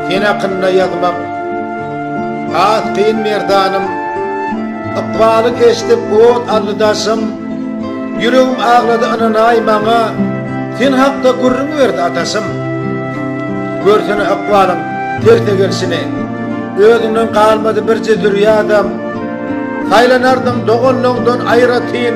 Sen hakynda ýazmak has kyn merdanym Ykbaly geçdip ot aldy daşym Ýüregim aglady ynanaý maňa Sen hakda gürrüň berdi ataşym Görsene ykbalyň terse gelşini Özüňden galmady birje zürýadam Saýlanardyň doganlygyňdan aýratyn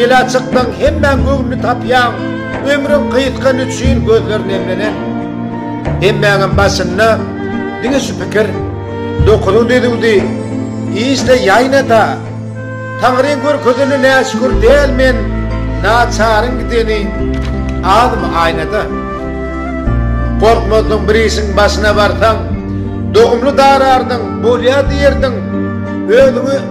Ele çyksaň hemmäň göwnüni tapýaň, ömrüň gysgany üçin gözler nemlenen. Hemmäňem başynda diňe şu pikir, Dokuzyň düzüwdi, işle ýaýna-da, Taňryň görkezeni näşükür däl men, naçaryň gideni azmy aýna-da. Gorkmazdyň bir işiň başyna barsaň, dogumly darardyň, bolýa diýerdiň, özüňi.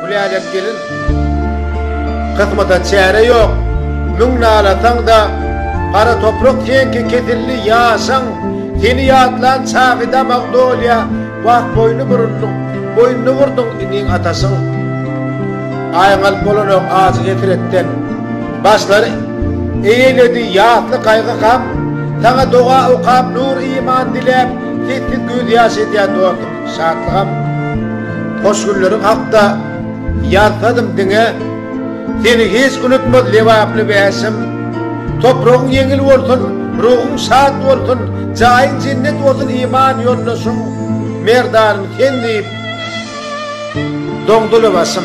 Gülälek gelin kysmata çäre ýok, Müň nalasaň-da, gara toprak seňki kesildi, Ýaşaň, seni ýatlan çagy damag dolýa, Wah, boýny burundyň, boýnuny urduň iniň ataşyň. Aýyň alyp bolanok ajy-hesretden, Başlary eýeledi ýasly gaýgy-gam, Saňa doga okap, nur-iman diläp, Sessiz gözýaş edýän dostum. Şatlygam hoş günleri hakda ýazsadym diňe Seni hiç unutmaz lebaply bäşim Topragyň ýeňil bolsun ruhuň şat bolsun Jaýyň jennet bolsun iman ýoldaşym Merdanym sen diýip doňduly başym.